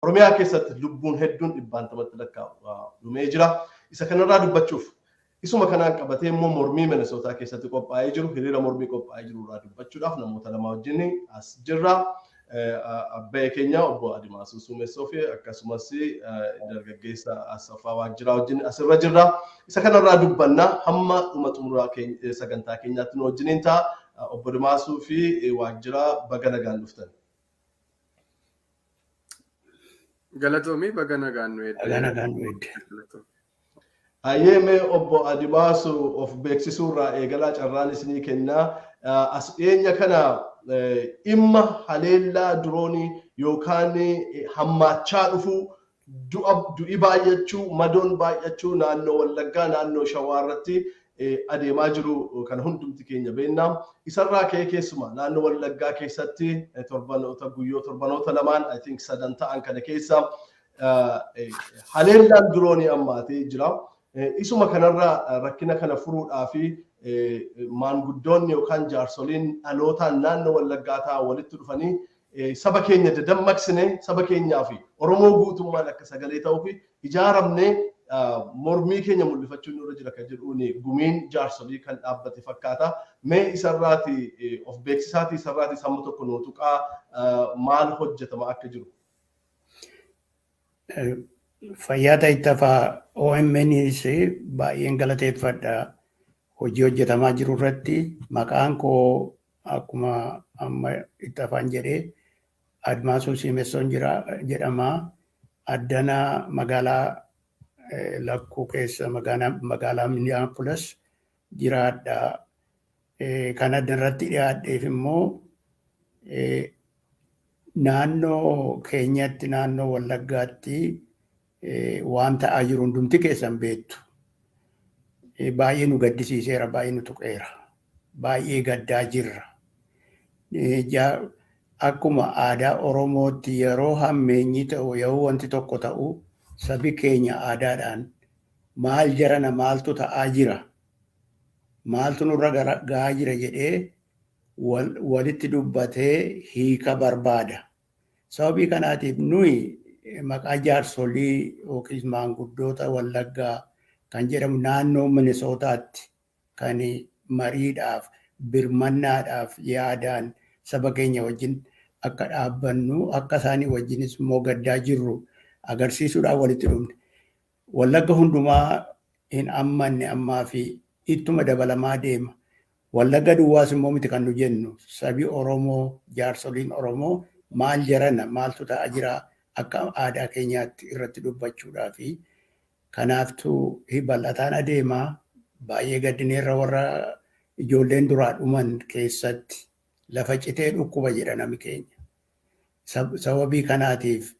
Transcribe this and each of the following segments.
Oromiyaa keessatti lubbuun hedduun dhibbaantamatti lakkaa'u dhumee jira. Isa kanarraa dubbachuuf isuma kanaan qabatee immoo mormii Minnesota keessatti qophaa'ee jiru hiriira mormii qophaa'ee jiru irraa dubbachuudhaaf namoota lama wajjin as jirra. Abba'ee keenya obbo Adimaasuu Suumessoo fi akkasumas dargaggeessa Asaffaa Waajjiraa wajjin asirra jirra. Isa kanarraa dubbanna hamma dhuma xumuraa sagantaa keenyaatti nu wajjiniin ta'a. Obbo Adimaasuu fi Waajjiraa baga nagaan dhuftan. Galatoomii baga nagaan nu eedde. Baga nagaan nu eedde. Hayyee mee obbo Adimaasu of beeksisuu irraa eegalaa carraan isinii kennaa. As dhiyeenya kana dhimma haleellaa diroonii yookaan hammaachaa dhufuu Du'a, du'i baay'achuu, madoon baay'achuu naannoo Wallaggaa, naannoo Shawaa irratti adeemaa jiru kana hundumti keenya beekna. Isa irraa ka'ee keessumaa naannoo Wallaggaa keessatti torbanoota, guyyoo, torbanoota lamaan I think sadan ta'an kana keessa haleellaan diroonii ammaatee jira. Isuma kanarra rakkina kana furuudhaaf maanguddoonni yookaan jaarsoliin dhalootaan naannoo Wallaggaa ta'an walitti dhufanii Saba keenya dadammaqsine saba keenyaa fi Oromoo guutummaan akka sagalee ta'uu fi ijaaramnee mormii keenya mul'ifachuun nurra jira kan jedhuun gumiin jaarsolii kan dhaabbate fakkaata. Mee isarraati of beeksisaati isarraati sammu tokko nuu tuqaa maal hojjetama akka jiru. Fayyaa Taayittafaa OMNs baay'een galateeffadha. Hojii hojjetamaa jiru irratti maqaan koo akkuma amma itti afaan jedhee Admaasuu Siimessoon jira jedhama. Addana magaalaa Lakkuu keessa magaalaa Minneapolis jiraadha. Kan adda irratti dhiyaadheef immoo naannoo keenyatti naannoo Wallaggaatti waan ta'aa jiru hundumti keessan beektu. Baay'ee nu gaddisiiseera, baay'ee nu tuqeera. Baay'ee gaddaa jirra. Akkuma aadaa Oromootti yeroo hammeenyi ta'u, yeroo wanti tokko ta'u sabi keenya aadaadhaan maal jarana maaltu ta'aa jira? Maaltu nurra gahaa jira jedhee walitti dubbatee hiika barbaada. Sababii kanaatiif nuyi maqaa jaarsolii yookiis maanguddoota Wallaggaa kan jedhamu naannoo Minisootaatti kan mariidhaaf, birmannaadhaaf yaadaan saba keenya wajjin akka dhaabbannu, akka isaanii wajjinis immoo gaddaa jirru agarsiisuudhaaf walitti dhufne. Wallagga hundumaa hin ammanne ammaa fi ittuma dabalamaa deema. Wallagga duwwaas immoo miti kan nu jennu, sabi Oromoo, jaarsoliin Oromoo maal jarana, maaltu ta'a jira akka aadaa keenyaatti irratti dubbachuudhaafi. Kanaaftu hi bal'ataan adeema. Baay'ee gaddineerra warra ijoolleen duraa dhuman keessatti. Lafa citee dhukkuba jedha nami keenya. Sab- Sababii kanaatiif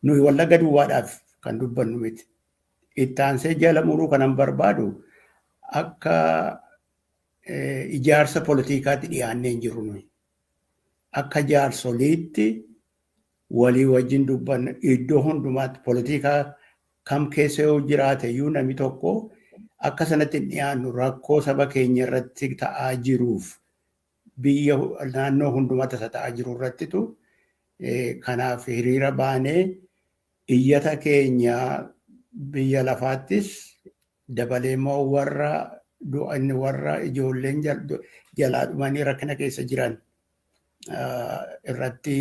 nuyi wallagga duwwaadhaaf kan dubbannu miti. Ittaansee jala muruu kanan barbaadu akka ijaarsa politikaatti dhiyaannee hin jirru nuyi. Akka jaarsoliitti walii wajjin dubbanna iddoo hundumaatti politikaa kam keessa yoo jiraate iyyuu namni tokko akka sanatti hin dhiyaannu rakkoo saba keenya irratti ta'aa jiruuf biyya naannoo hundumaa tasa ta'aa jiru irrattitu kanaaf hiriira baanee iyyata keenya biyya lafaattis dabalee immoo warra du'a inni warra ijoolleen jalaa dhumanii rakkina keessa jiran irratti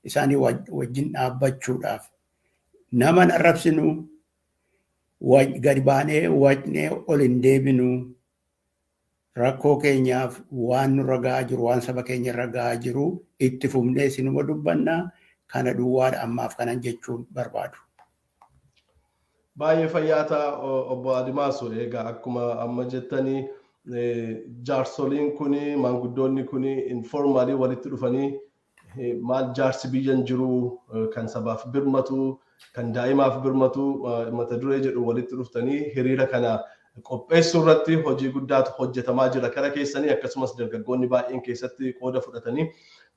isaanii wajjin dhaabbachuudhaaf nama hin arrabsinu gadi baanee wacnee ol hin deebinu Rakkoo keenyaaf waan nurra ga'aa jiru, waan saba keenya irra ga'aa jiru itti fufnee isinuma dubbanna. Kana duwwaadha ammaaf kanan jechuun barbaadu. Baay'ee fayyaa ta'a obbo Adimaasu. Egaa akkuma amma jettani jaarsoliin kuni maanguddoonni kuni informaalii walitti dhufanii Maal jaarsi biyya hin jiru kan sabaaf birmatu kan daa'imaaf birmatu mata duree jedhu walitti dhuftanii hiriira kana qopheessuu irratti hojii guddaatu hojjetamaa jira kara keessanii akkasumas dargaggoonni baay'een keessatti qooda fudhatanii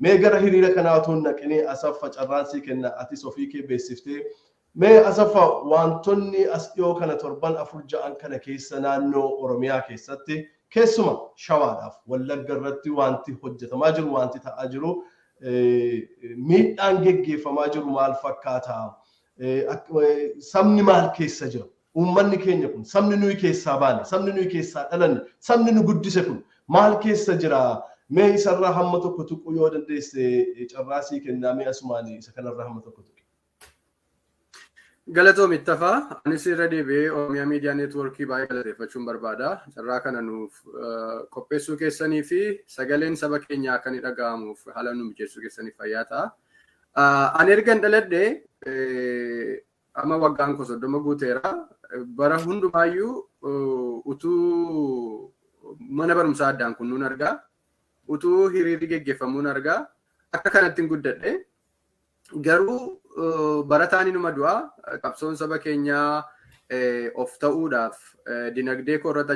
mee gara hiriira kanaa utuu hin dhaqinii asaffa carraansii kenna atis ofii kee beeksiftee Mee Asaffa waantonni as dhiyoo kana torban afur ja'an kana keessa naannoo Oromiyaa keessatti keessuma Shawaadhaaf Wallagga irratti waanti hojjetamaa jiru waanti ta'aa jiru miidhaan geggeeffamaa jiru maal fakkaata? Sabni maal keessa jira? Uummanni keenya kun sabni nuyi keessaa baane sabni nuyi keessaa dhalanne sabni nu guddise kun maal keessa jira? Mee isarraa hamma tokko tuquu yoo dandeesse carraa sii kennaa mee asumaan isa kanarraa hamma tokko tuqi. Galatoomi Ittafaa, anis irra deebi'ee Oromiyaa Miidiyaa Neetwoorkii baay'ee galateeffachuun barbaada. Carraa kana nuuf qopheessuu keessanii fi sagaleen saba keenyaa akka inni dhaga'amuuf haala nu mijeessuu keessaniif fayyaa ta'a. Ani erga hin dhaladhe amma waggaan koo soddoma guuteera. Bara hundumaayyuu utuu mana barumsaa addaan kunnuun argaa, utuu hiriirri geggeeffamuun argaa, akka kanatti hin guddadhe. Garuu barataan inuma du'a qabsoon saba keenyaa of ta'uudhaaf dinagdee koo irratti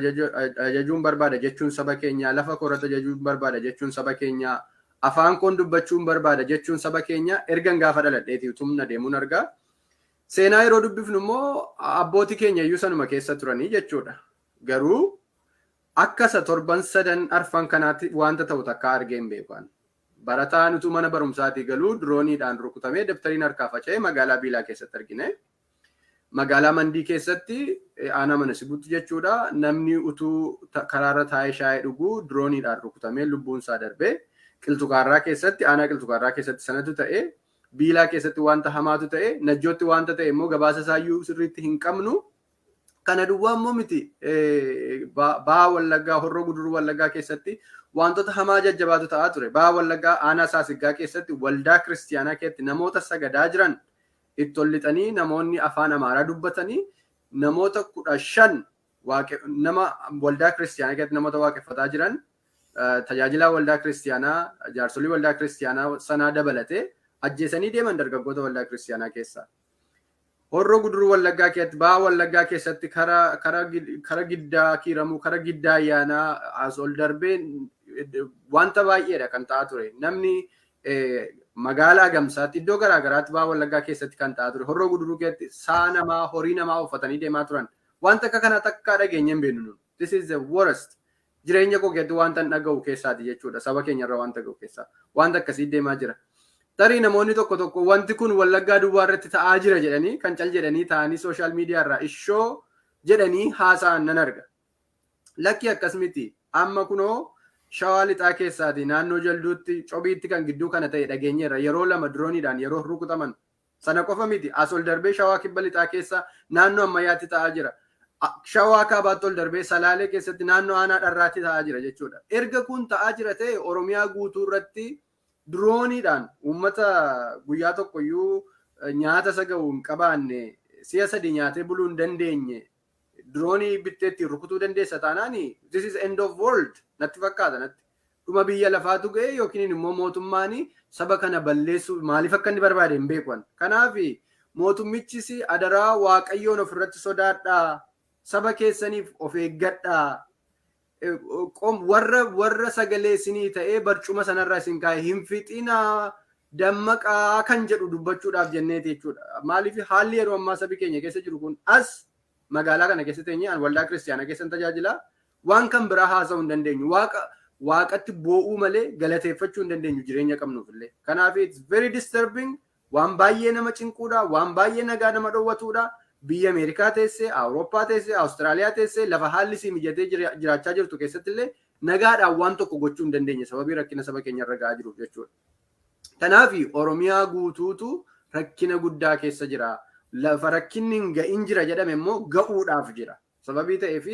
ajajuun barbaada jechuun saba keenyaa lafa koo irratti ajajuun barbaada jechuun saba keenyaa afaan koon dubbachuun barbaada jechuun saba keenyaa ergan gaafa dhaladheeti utumna deemuun argaa. Seenaa yeroo dubbifnu immoo abbooti keenya iyyuu sanuma keessa turanii jechuudha. Garuu akka isa torban sadan arfan kanaatti wanta ta'u takka argee hin beekan. Barataan utuu mana barumsaatii galuu dirooniidhaan rukutamee dabtariin harkaa faca'e magaalaa Biilaa keessatti argine. Magaalaa Mandii keessatti aanaa mana sibuutti jechuudha namni utuu karaarra taa'ee shaayee dhuguu dirooniidhaan rukutamee lubbuun isaa darbe. Qilxukaarraa keessatti aanaa qilxukaarraa keessatti sanatu ta'e. Biilaa keessatti wanta hamaatu ta'e. Najjootti wanta ta'e immoo gabaasa isaayyuu sirriitti hin qabnu. Kana duwwaa immoo miti baha wallaggaa horroo guduruu wallaggaa keessatti wantoota hamaa jajjabaatu ta'aa ture. Baha wallaggaa aanaa saasiggaa keessatti waldaa kiristiyaanaa keessatti namoota sagadaa jiran itti ol lixanii namoonni afaan amaaraa dubbatanii namoota kudha shan nama waldaa kiristiyaanaa keessatti namoota waaqeffataa jiran tajaajilaa waldaa kiristiyaanaa jaarsolii waldaa kiristiyaanaa sanaa dabalatee ajjeesanii deeman dargaggoota waldaa kiristiyaanaa keessaa. Horroo Guduruu Wallaggaa keessatti, Baha Wallaggaa keessatti kara giddaa kiiramuu, kara giddaa ayyaanaa as ol darbee wanta baay'eedha kan ta'aa ture. Namni magaalaa Gamsaatti iddoo garaa garaatti Baha Wallaggaa keessatti kan ta'aa ture. Horroo Guduruu keessatti sa'a namaa, horii namaa uffatanii deemaa turan. Wanta akka kanaa takkaa dhageenyee hin beeknu. This is the worst. Jireenya koo keessatti waantan dhaga'u keessaati jechuudha. Saba keenyarra waanta ga'u keessaa. Waanta akkasii deemaa jira. Tarii namoonni tokko tokko wanti kun Wallaggaa duwwaa irratti ta'aa jira jedhanii kan cal jedhanii taa'anii sooshaal miidiyaa irraa ishoo jedhanii haasa'an nan arga. Lakkii akkas miti. Amma kunoo shawaa lixaa keessaati naannoo jalduutti cobiitti kan gidduu kana ta'e dhageenyeerra yeroo lama dirooniidhaan yeroo rukutaman Sana qofa miti, as ol darbee Shawaa Kibba Lixaa keessa naannoo Ammayyaatti ta'aa jira. Shawaa Kaabaatti ol darbee Salaalee keessatti naannoo Aanaa Dharraatti ta'aa jira jechuudha. Erga kun ta'aa jira ta'e Oromiyaa guutuu irratti dirooniidhaan uummata guyyaa tokkoyyuu nyaata isa ga'u hin qabaanne si'a sadii nyaatee buluu hin dandeenye diroonii bittee ittiin rukutuu dandeessa taanaan this is end of world natti fakkaata natti. Dhuma biyya lafaatu ga'e yookiin immoo mootummaan saba kana balleessuuf maaliif akka inni barbaade hin beeku ani. Kanaaf mootummichis adaraa waaqayyoon ofirratti sodaadhaa saba keessaniif of eeggadhaa warra warra sagalee isinii ta'ee barcuma sanarra isin kaa'e hin fixinaa dammaqaa kan jedhu dubbachuudhaaf jenneeti jechuudha. Maaliif haalli yeroo ammaa sabi keenya keessa jiru kun as magaalaa kana keessa teenyee an waldaa kiristaanaa keessan tajaajilaa waan kan biraa haasa'uu hin dandeenyu. Waaqa waaqatti boo'uu malee galateeffachuu hin dandeenyu jireenya qabnuuf illee. Kanaaf it's very disturbing Waan baay'ee nama cinquudha, waan baay'ee nagaa nama dhowwatuudha. Biyya Ameerikaa teessee, Awurooppaa teessee, Awustiraaliyaa teessee lafa haalli sii mijatee jiraachaa jirtu keessatti illee nagaadhaan waan tokko gochuu hin dandeenye sababii rakkina saba keenya irra ga'aa jiruuf jechuudha. Kanaaf Oromiyaa guutuutu rakkina guddaa keessa jira. Lafa rakkinni hin ga'in jira jedhame immoo ga'uudhaaf jira. Sababii ta'eef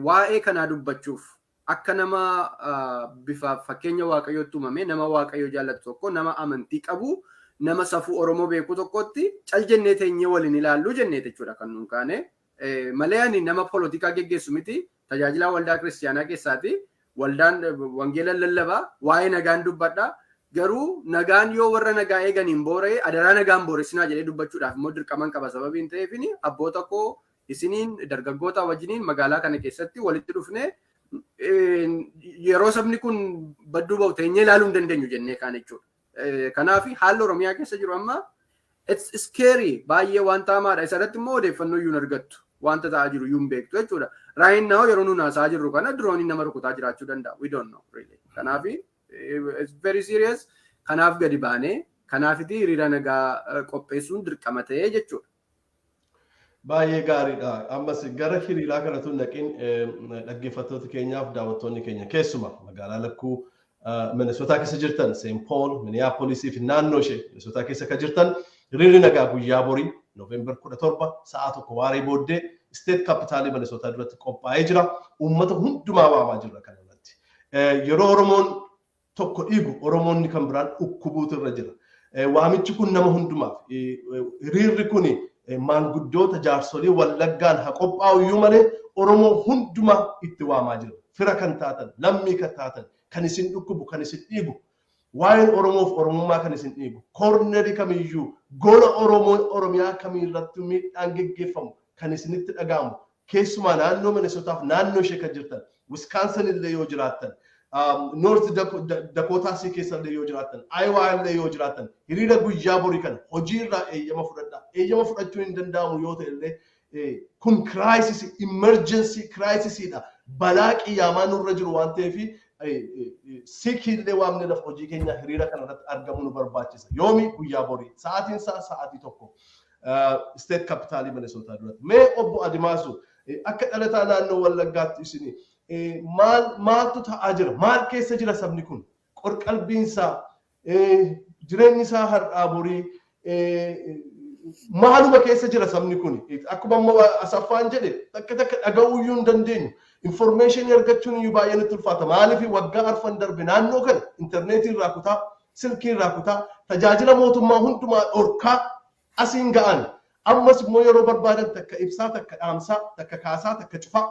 waa'ee kanaa dubbachuuf Akka nama bifa fakkeenya Waaqayyootti uumamee nama Waaqayyo jaallatu tokko, nama amantii qabu, nama safuu Oromoo beeku tokkotti cal jennee teenyee wal hin ilaallu jenneeti jechuudha kan nuun kaane. Malee ani nama polotikaa geggeessu miti. Tajaajilaa waldaa kiristiyaanaa keessaati. Waldaan wangeela lallaba. Waa'ee nagaan dubbadha. Garuu nagaan yoo warra nagaa eeganiin boora'e adaraa nagaan booressinaa jedhee dubbachuudhaaf immoo dirqaman qaba sababiin ta'eefini abboota koo Isiniin dargaggootaa wajjiniin magaalaa kana keessatti walitti dhufnee yeroo sabni kun badduu ba'u teenyee ilaaluu hin dandeenyu jennee kaan jechuudha. Kanaaf haalli Oromiyaa keessa jiru amma it's scary baay'ee waan taamaadha. Isa irratti immoo odeeffannoo iyyuu hin argattu. Wanta ta'aa jiru iyyuu hin beektu jechuudha. Raayin naa'u yeroo nuun haasaa jirru kana dirooniin nama rukutaa jiraachuu danda'a. We don't know really. Kanaaf it's very serious. Kanaaf gadi baanee kanaafiti hiriira nagaa qopheessuun dirqama ta'ee jechuudha. Baay'ee gaariidha. Ammas gara hiriiraa kanatu hin dhaqin dhaggeeffattoota keenyaaf daawwattoonni keenya keessuma magaalaa lakkuu Minnesota keessa jirtan St. Paul, Minneapolis fi naannoo ishee Minnesota keessa akka jirtan hiriirri nagaa guyyaa borii November 17 sa'a tokko waaree booddee state kapitaalii Minnesota duratti qophaa'ee jira. Uummata hundumaa waamaa jirra kana irratti. Yeroo Oromoon tokko dhiigu Oromoonni kan biraan dhukkubuutu irra jira. Waamichi kun nama hundumaaf. Hiriirri kun maanguddoota jaarsolii Wallaggaan haa qophaa'u iyyuu malee Oromoo hundumaa itti waamaa jira. Fira kan taatan, lammii kan taatan, kan isin dhukkubu, kan isin dhiigu, waa'een Oromoof Oromummaa kan isin dhiigu, koornerii kamiyyuu, gola Oromoo Oromiyaa kamiirrattuu miidhaan geggeeffamu kan isinitti dhaga'amu, Keessumaa naannoo Minnesota fi naannoo ishee kan jirtan, Wisconsin illee yoo jiraattan, North Dakota sii keessa illee yoo jiraattan, Iowa illee yoo jiraattan, hiriira guyyaa borii kana hojii irraa eeyyama fudhadhaa. Eeyyama fudhachuun hin danda'amu yoo ta'e illee, kun crisis, emergency crisis dha. Balaa qiyyaamaa nurra jiru waan ta'eef, siikii illee waamnee lafa hojii keenyaa hiriira kana irratti argamuu nu barbaachisa. Yoomi? Guyyaa borii. Sa'aatiin isaa sa'aatii tokko. State Capital Minnesota duratti. Mee obbo Adimaasu akka dhalataa naannoo Wallaggaatti isin maal maaltu ta'aa jira? Maal keessa jira sabni kun? Qorqalbiin isaa jireenyi isaa har'aa borii maaluma keessa jira sabni kun akkuma amma asaffaan jedhe takka takka dhaga'uu iyyuu hin dandeenyu informeeshinii argachuun iyyuu baay'ee nutti ulfaata maaliif waggaa arfan darbe naannoo kana intarneetii irraa kutaa silkii irraa kutaa, tajaajila mootummaa hundumaa dhorkaa asiin ga'an. Ammas immoo yeroo barbaadan takka ibsaa, takka dhaamsaa, takka kaasaa, takka cufaa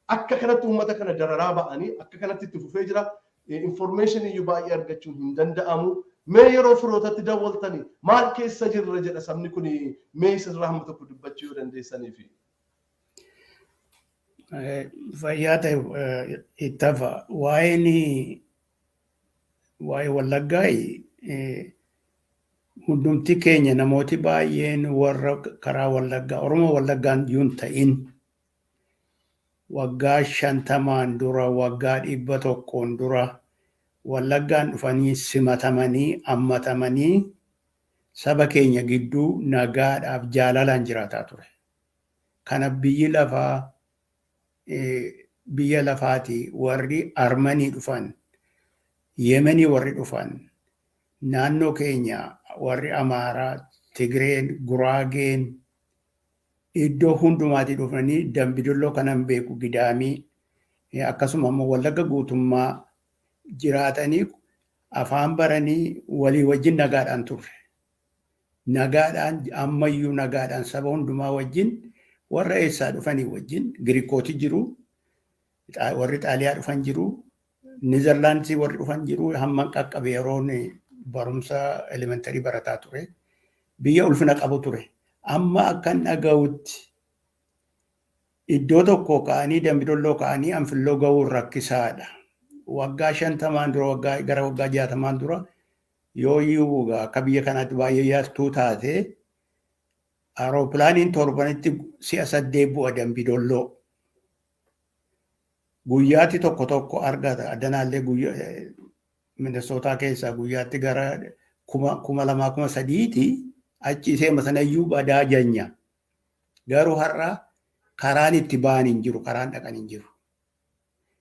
akka kanatti uummata kana dararaa ba'anii akka kanatti itti fufee jira. Information iyyuu baay'ee argachuun hin danda'amu. Mee yeroo firootatti dawwaltani maal keessa jirra jedha sabni kun mee isirraa hamma tokko dubbachuu yoo dandeessaniifi. Fayyaa ta'e ittafa waa'een waa'ee wallaggaa hundumti keenya namooti baay'een warra karaa wallaggaa oromoo wallaggaan yuun ta'in waggaa shantamaan dura waggaa dhibba tokkoon dura wallaggaan dhufanii simatamanii ammatamanii saba keenya gidduu nagaadhaaf jaalalaan jiraataa ture. Kana biyyi lafaa biyya lafaatii warri Armanii dhufan, Yemenii warri dhufan, naannoo keenya warri Amaaraa, Tigreen, Guraageen iddoo hundumaatii dhufanii Dambidolloo kanan beeku Gidaamii akkasuma immoo Wallagga guutummaa jiraatanii afaan baranii walii wajjin nagaadhaan turre. Nagaadhaan, ammayyuu nagaadhaan saba hundumaa wajjin, warra eessaa dhufanii wajjin, Girikooti jiru, warri Xaaliyaa dhufan jiru, Nizerlaandisii warri dhufan jiru, hamman qaqqabe yeroon barumsa elementarii barataa ture. Biyya ulfina qabu ture. Amma akkan dhaga'utti iddoo tokko ka'anii dambidolloo ka'anii anfilloo ga'uun rakkisaadha. Waggaa shantamaan dura waggaa gara waggaa jaatamaan dura Yooyyuu egaa akka biyya kanaatti baay'ee yartuu taate aeropilaaniin torbanitti si'a saddeet bu'a dambi dolloo. Guyyaatti tokko tokko argata. Addanaallee Minnesootaa keessaa guyyaatti gara kuma lamaa kuma sadiiti achi isee sanayyuu badaa janya. Garuu har'a karaan itti ba'an hin jiru, karaan dhaqan hin jiru.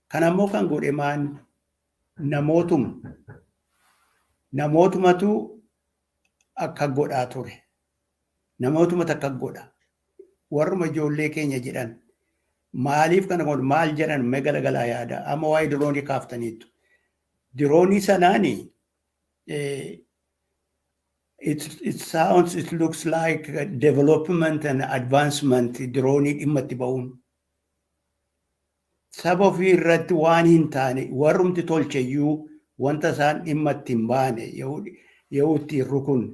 Kana immoo kan godhe maan namootuma namootumatu akka godhaa ture namootumatu akka godha warruma ijoollee keenya jedhan maaliif kana godhu maal jedhan mee galagalaa yaada amma waa'ee diroonii kaaftaniittu diroonii sanaani it, it sounds it looks like a development and advancement diroonii dhimma itti ba'uun Saba ofii irratti waan hin taane warrumti tolche iyyuu wanta isaan dhimma itti hin baane yahuu itti hin rukunne.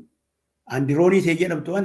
Andirooniisee jedhamtu